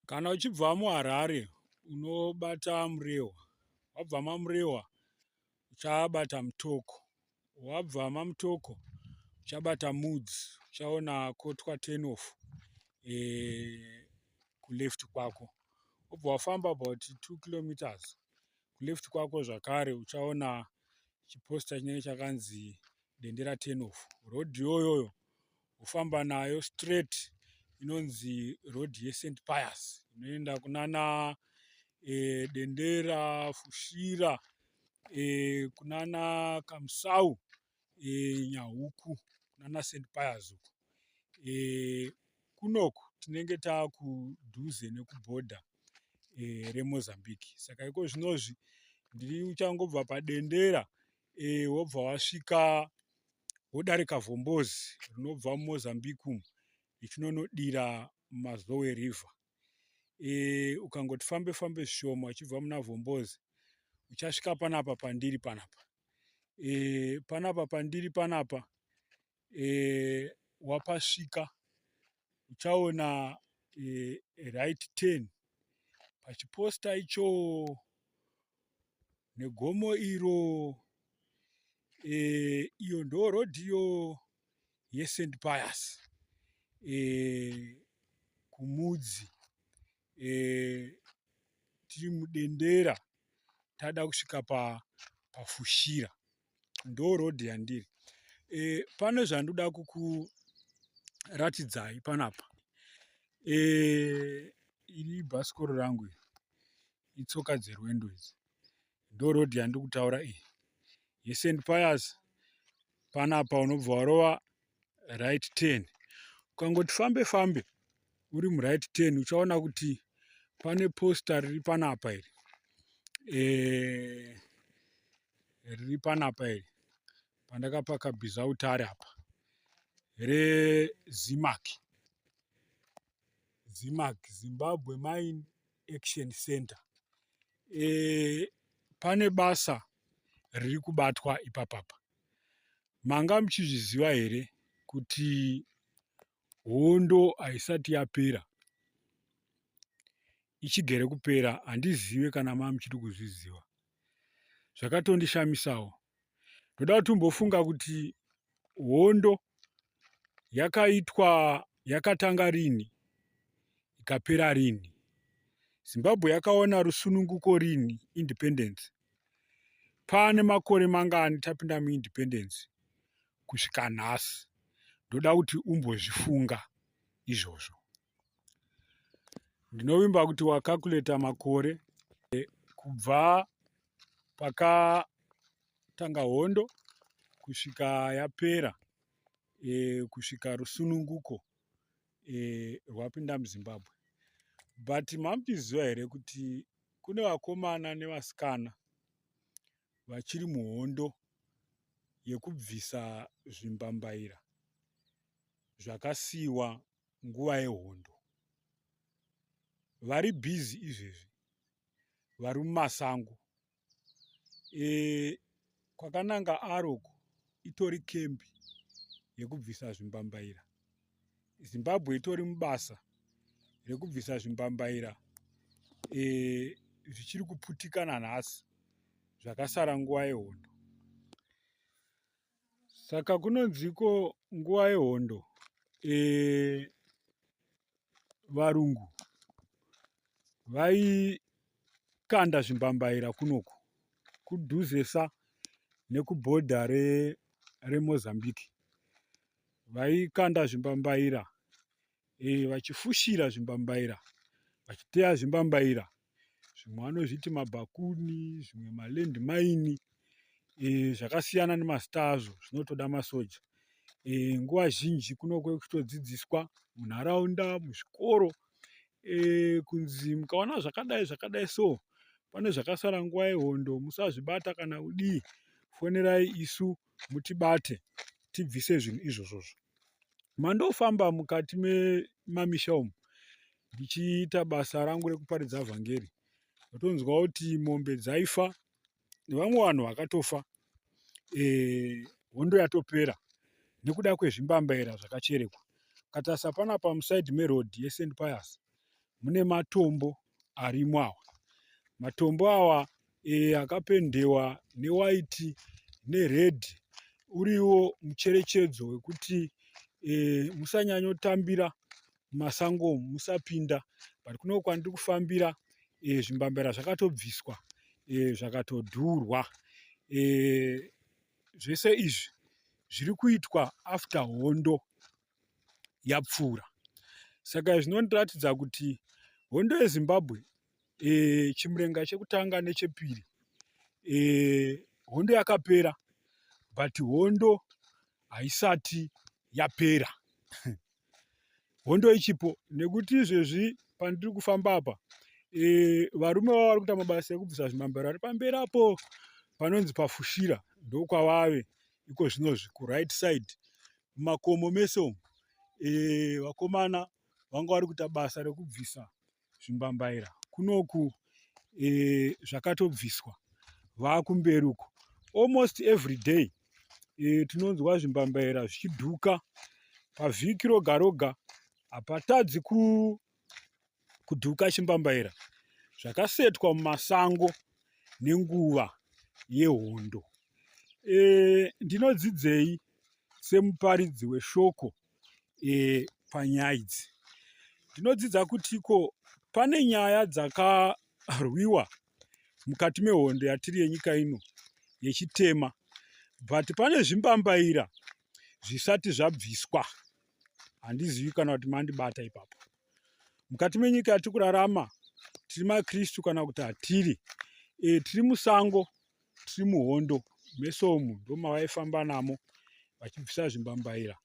Kana uchibva muHarare unobata Murehwa, wabva maMurehwa uchabata Mutoko, wabva maMutoko uchabata Mudzi uchaona kotwa turn off kuleft kwako wobva wafamba about 2 kilometers kuleft kwako zvakare uchaona chiposta chinenge chakanzi Dendera turn off road iyoyoyo wofamba nayo straight inonzi road yesent pius inoenda kunana e, dendera fushira e, kunana kamsau e, nyahuku kunana sent pius uku e, kunoku tinenge taakudhuze nekubhodha e, remozambique saka iko zvinozvi ndiri uchangobva padendera e, wobva wasvika wodarika vhombozi rinobva mumozambique umu richinonodira mazowe river e, ukangoti fambe fambe zvishoma uchibva muna vhombozi uchasvika panapa pandiri panapa e, panapa pandiri panapa eh, wapasvika uchaona eh, right ten pachiposta icho negomo iro eh, iyo ndo road iyo yesend pias eh, kumudzi eh, tiri mudendera tada kusvika pa pafushira ndo road yandiri e, pane zvandoda kukuratidzai panapa e, iri bhasikoro rangu iri itsoka dzerwendo idzi ndo road yandiri kutaura iyi yesend payas panapa unobva warova right turn ukangoti fambe fambe uri muright turn uchaona kuti pane posta riri panapa iri eh, riri panapa iri pandakapaka bizautare apa rezimac zimac zimbabwe mine action center e, pane basa riri kubatwa ipapapa Manga muchizviziva here kuti hondo haisati yapera ichigere kupera handizive kana maa muchiri kuzviziva zvakatondishamisawo ndoda kuti umbofunga kuti hondo yakaitwa yakatanga rini ikapera rini zimbabwe yakaona rusununguko rini independence Pane makore mangani tapinda muindependence kusvika nhasi, ndoda kuti umbozvifunga izvozvo. Ndinovimba kuti wakakuleta makore eh, kubva paka tanga hondo kusvika yapera e, kusvika rusununguko e, rwapinda muzimbabwe but mamuchiziva here kuti kune vakomana nevasikana vachiri muhondo yekubvisa zvimbambaira zvakasiyiwa nguva yehondo vari bhizi izvezvi vari mumasango e, kwakananga aroko itori kembi yekubvisa zvimbambaira zimbabwe itori mubasa rekubvisa zvimbambaira e, zvichiri kuputikana nhasi zvakasara nguva yehondo saka kunonziko nguva yehondo e, varungu vaikanda zvimbambaira kunoku kudhuzesa nekubhodha remozambique re vaikanda zvimbambaira eh, vachifushira zvimbambaira vachiteya zvimbambaira zvimwe vanozviti mabhakuni zvimwe maland maini eh, zvakasiyana nemazita azvo zvinotoda masoja eh, nguva zhinji kunokuve kuchitodzidziswa munharaunda muzvikoro kunzi mukaona zvakadai zvakadai so pane zvakasara nguva yehondo musazvibata kana kudii fonerai isu mutibate tibvise zvinhu izvozvozvo mandofamba mukati memamisha umu ndichiita basa rangu rekuparidza vhangeri ndotonzwa kuti mombe dzaifa nevamwe vanhu vakatofa eh, hondo e, yatopera nekuda kwezvimbambaira zvakacherekwa katarisa pana pamusaidi meroad yesend pias mune matombo arimo awa matombo awa e, akapendewa newaiti nered uriwo mucherechedzo wekuti e, musanyanyotambira mumasango musapinda but kuno kwandiri kufambira e, zvimbambera zvakatobviswa e, zvakatodhurwa e, zvese izvi zviri kuitwa after hondo yapfuura saka izvi zvinotiratidza kuti hondo yezimbabwe e, chimurenga chekutanga nechepiri e, hondo yakapera but hondo haisati yapera hondo ichipo nekuti izvezvi pandiri kufamba apa e, varume vavo vari kuita mabasa ekubvisa zvimambero ari pamberi apo panonzi pafushira ndokwavave iko zvinozvi kuright side mumakomo mese umu e, vakomana vanga vari kuita basa rekubvisa zvimbambaira kunoku e, zvakatobviswa vakumberi uko almost every day e, tinonzwa zvimbambaira zvichidhuka pavhiki roga roga hapatadzi ku kudhuka chimbambaira zvakasetwa mumasango nenguva yehondo e, ndinodzidzei semuparidzi weshoko e, panyaya idzi ndinodzidza kuti ko pane nyaya dzakarwiwa mukati mehondo yatiri yenyika ino yechitema but pane zvimbambaira zvisati zvabviswa handizivi kana kuti mandibata ipapo mukati menyika yatiri kurarama tiri makristu kana kuti hatiri e, tiri musango tiri muhondo meso umu ndomavaifamba namo vachibvisa zvimbambaira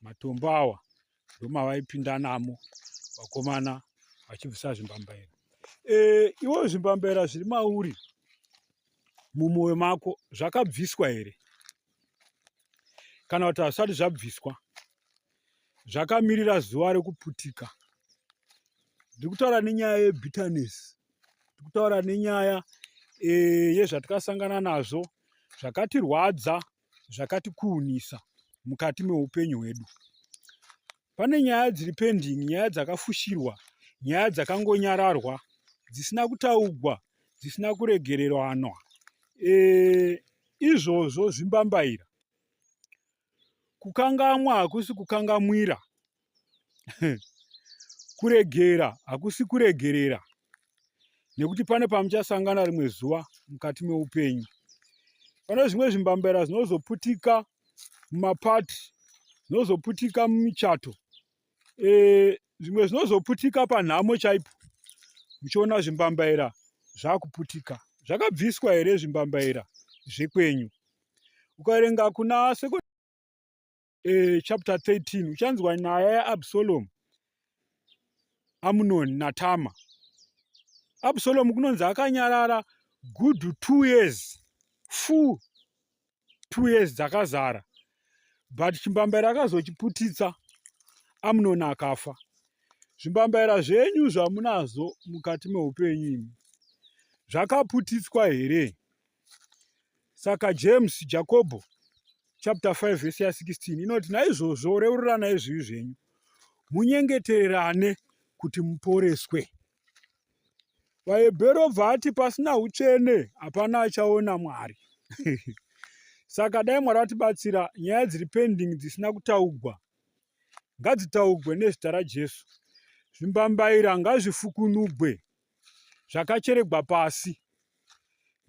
matombo awa ndomavaipinda namo vakomana vachibvisa zvimbambaira e, iwo zvimbambaira zviri mauri mumwoyo mako zvakabviswa here kana kuti hazvisati zvabviswa zvakamirira zuva rekuputika ndiri kutaura nenyaya yebitterness ndiri kutaura nenyaya e, yezvatikasangana nazvo zvakatirwadza zvakatikuunisa mukati meupenyu hwedu pane nyaya dziri pending nyaya dzakafushirwa nyaya dzakangonyararwa dzisina kutaugwa dzisina kuregereranwa e, izvozvo zvimbambaira kukangamwa hakusi kukangamwira kuregera hakusi kuregerera nekuti pane pamuchasangana rimwe zuva mukati meupenyu pane zvimwe zvimbambaira zvinozoputika mumapati zvinozoputika mumichato eh, zvimwe zvinozoputika panhamo chaipo muchiona zvimbambaira zvakuputika zvakabviswa here zvimbambaira zvekwenyu ukaverenga kuna second eh, chapter 13 uchanzwa nyaya yaabsalomu amunoni natama absalomu kunonzi akanyarara good two years full two years dzakazara but chimbambaira akazochiputitsa amunoni akafa zvimbambaira zvenyu zvamunazvo mukati meupenyu imi zvakaputitswa here saka james jakobho chapter 5 vhesi ya 16 inoti naizvozvo reurirana izvivi zvenyu munyengetererane kuti muporeswe VaHebheru obva ati pasina utsvene hapana achaona Mwari. Saka dai Mwari vatibatsira nyaya dziri pending dzisina kutaugwa ngadzitaugwe nezita raJesu. Zvimbambaira ngazvifukunugwe zvakacheregwa pasi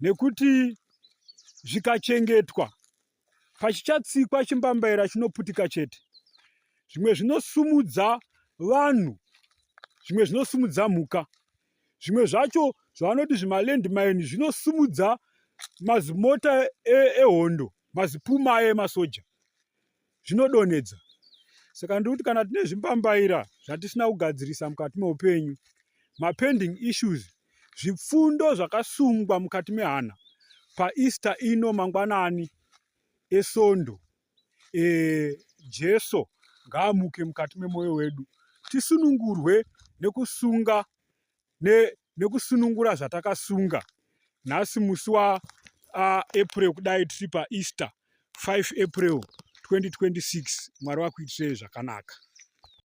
nekuti zvikachengetwa pachichatsikwa chimbambaira chinoputika chete zvimwe zvinosumudza vanhu zvimwe zvinosumudza mhuka zvimwe zvacho zvavanoti zvimalandmine zvinosumudza mazimota e-, ehondo e mazipuma aye emasoja zvinodonhedza saka ndiri kuti kana tine zvimbambaira zvatisina kugadzirisa mukati meupenyu mapending issues zvipfundo zvakasungwa mukati mehana paeaster ino mangwanani esondo e, jesu ngaamuke mukati memwoyo wedu tisunungurwe nekusunga ne, nekusunungura zvatakasunga nhasi musi wa uh, april kudai tiri paeaster 5 april 2026 mwari wakuitirei zvakanaka